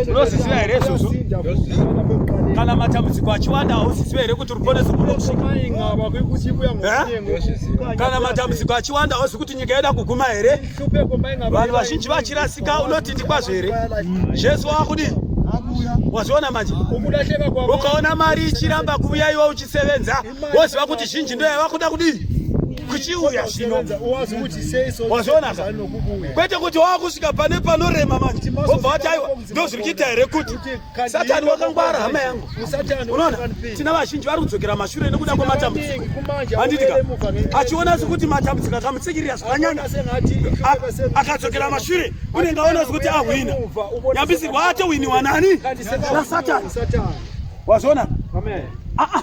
unozviziva here izvozvo kana matambudziko achiwanda hauziziva here kuti ruponeso kana matambudziko achiwanda hauzi kuti nyika yoda kuguma here vanhu vazhinji vachirasika unoti ndikwazvo here jesu wakudi wazviona manje ukaona mari ichiramba kuuya iwe uchisevenza woziva kuti zhinji ndo yava kuda kudii kuchiuya zvino wazviona ka kwete kuti wava kusvika pane panorema manje wobva wati aiwa ndozviri kuita here kuti satani wakangwara hama yangu unoona tina vazhinji vari kudzokera mashure nekuda kwematambudziko handitika achiona sekuti matambudziko akamutsikirira zvakanyanya akadzokera mashure unenge aona sekuti ahwina nyambisirwa atowiniwa nani nasatani wazviona ah, ah.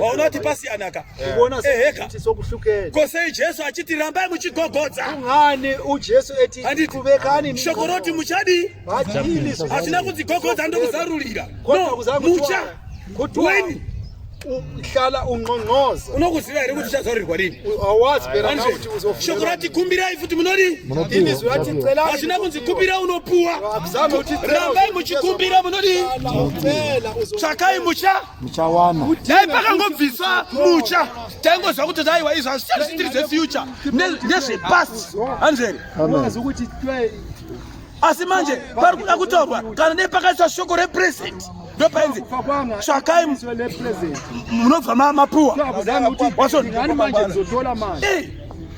waunoti pasiyanaka eheka ko sei jesu achiti rambai muchigogodza shoko roti muchadii hatina kudzigogodza ndokuzarurira no mucha weni hlala unqonqoza unokuziva here kuti uchazarurirwa rini shoko rati kumbirai futi munodi hazvina kunzi kumbira unopuwa rambai muchikumbira munodi tsvakai mucha muchawana dai pakangobviswa mucha taingozva kuti daiwa izvo hazvichazvitiri zvefuture nezvepast hanzveri asi manje pari kuda kutorwa kana dai pakaiswa shoko represent ndopainzi tsvakai munobva mapuwa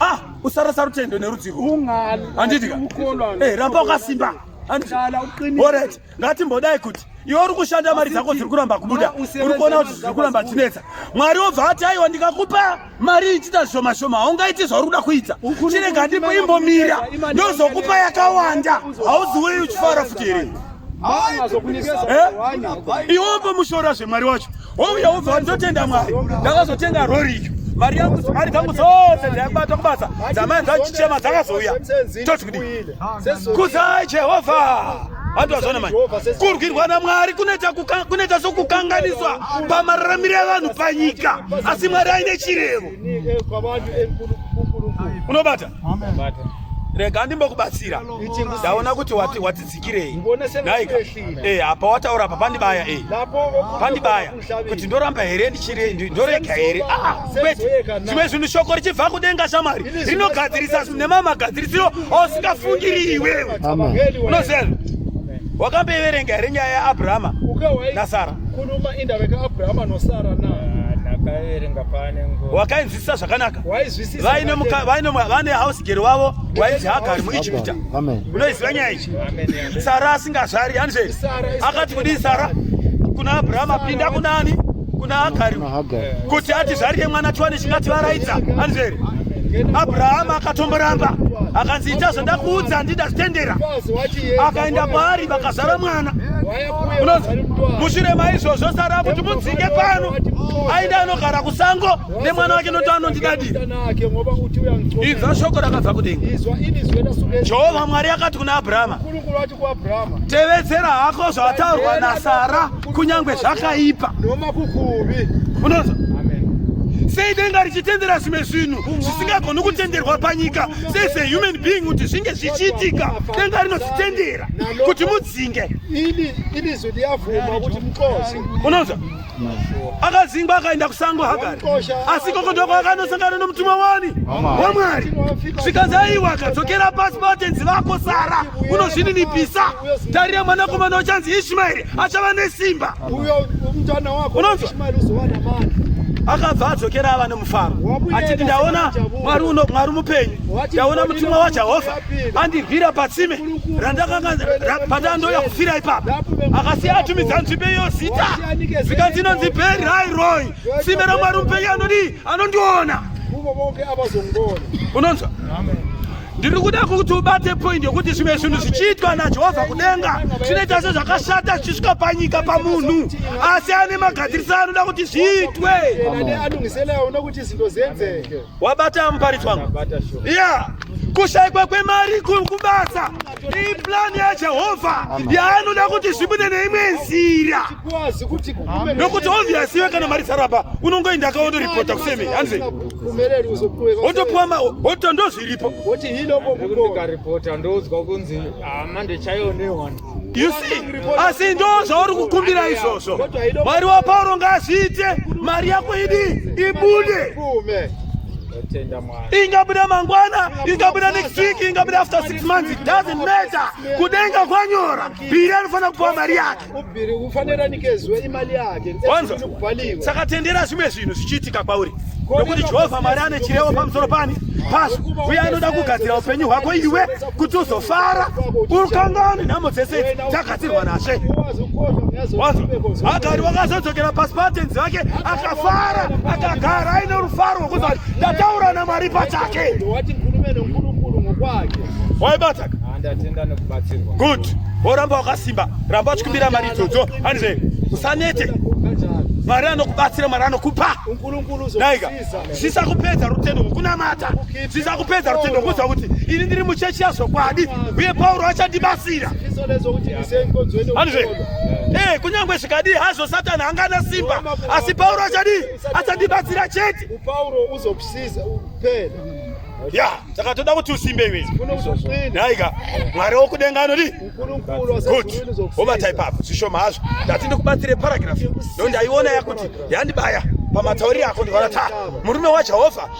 ah, usarasa rutendo nerudzivo handidika eh, ramba wakasimba handidika ngatimbodai kuti iwe uri kushanda mari dzako dziri kuramba kubuda uri kuona kuti zviri kuramba chinetsa mwari wobva ati aiwa ndikakupa mari ichita zvishoma shoma haungaiti zvauri kuda kuita chirega ndipo imbomira ndozokupa yakawanda hauziwei uchifara futi here eh? iwe umbomushora zvemwari wacho Wouya wobva ndotenda Mwari. Ndakazotenga rori iyo. Mari yangu mari dzangu dzose dzaibatwa kubasa dzamai dzachichema dzakazouya. Toti kudii? Kuzai Jehovha. handiwazvona manje kurwirwa namwari kunoita sokukanganiswa pamararamiro evanhu panyika asi mwari aine chirevo unobata rega ndimbokubatsira ndaona kuti wati dzikirei nhai eh apa wataura apa pandibaya eh pandibaya kuti ndoramba here ndichire ndorega here ah kwete zvimwe zvinhu shoko richibva kudenga shamari rinogadzirisa zvinhu nemamagadzirisiro ausingafungiri iwewe unoziva wakamboiverenga here nyaya yaabrahama nasara wakainzi Sa zvakanaka vaine muka vaine vane house girl wavo wainzi hagari muIjipita unoiziva nyaya ichi Sara asingazvari hanzve akati kudii Sara kuna Abraham apinda kunani kuna Hagari kuti ati zvarire mwana tiwane chingati varaidza hanzvere abrahama akatomboramba akanzi ita zvandakuudza handida zvitendera akaenda kwaari vakazara mwana mushure maizvozvo sara kuti mudzinge pano aenda anogara kusango nemwana wake noti anondidadi inzwa shoko rakabva kudenga jehovha mwari yakati kuna abrahama tevedzera hako zvataurwa nasara kunyange zvakaipa unonzwa sei denga richitendera zvimwe zvinhu zvisingagoni kutenderwa panyika sei sehuman being kuti zvinge zvichiitika denga rinozvitendera kuti mudzinge unonzwa akazingwa akaenda kusango hagari asi koko ndoko akanosangana nomutumwa wani wamwari zvikanzi aiwa akadzokera pasi pavatenzi vako sara unozvininipisa tarira mwanakomana wachanzi ishimaeri achava nesimba unonzwa akabva adzokera ava nemufaro achiti ndaona mwari uno mwari mupenyu ndaona mutumwa wajehovha andivhira patsime randakanga patandoya kufira ipapa akasiya atumidza nzvimbe iyo zita zvikanzi inonzi beri rairoi tsime ramwari mupenyu anodii anondiona unonzwa ndiri kuda kuti ubate poindi yokuti zvimwe zvinhu zvichiitwa najehovha kudenga zvinoita sezvakashata zvichisvika panyika pamunhu asi ane magadzirisano anoda kuti zviitwe wabata muparidzi wangu yeah. kushaikwa kwemari kubasa iyi plani yajehovha yaanoda kuti zvibude neimwe nzira nokuti obvious iwe kana mari sarapa unongoenda akaondoripota kuseme hanzi otopuwa oto ndozviripo You see, asi ndo zvauri kukumbira izvozvo. Mwari waPauro ngaazviite, mari yako idi ibude. Ingabuda mangwana, ingabuda next week, ingabuda after six months, it doesn't matter. Kudenga kwanyora, bhiri anofanira kupuwa mari yake. Ubhiri ufanira nikezwe imali yake. Wanzo, saka tendera zvimwe zvinhu zvichiitika kwauri. Nokuti Jehovha Mwari ane chirevo pamusoro pani? Pasu, uye anoda kugadzira upenyu hwako iwe. kuti uzofara ukangani nhamo dzese idzi dzagadzirwa nashe wanzwa agari wakazodzokera pasi paatenzi vake akafara akagara aine rufaro rwekuti vati ndataura namwari pachake waibataka good woramba wakasimba ramba uchikumbira mari idzodzo handize usanete mwari anokubatsira mwari anokupa daika zvisakupedza rutendo rwekunamata zvichakupedza rutendo kuziva kuti ini ndiri muchechi yazvokwadi uye pauro achandibatsira eh, kunyange zvikadii hazvo satani angana simba asi pauro achadii achandibatsira chete ya saka toda kuti usimbe iwe nhaika mwari wokudenga anodi good wobatai papo zvishoma hazvo ndati ndikubatsire paragraph ndo ndaiona yakuti yandibaya pamatauriro ako ndikaona ta murume wajehovha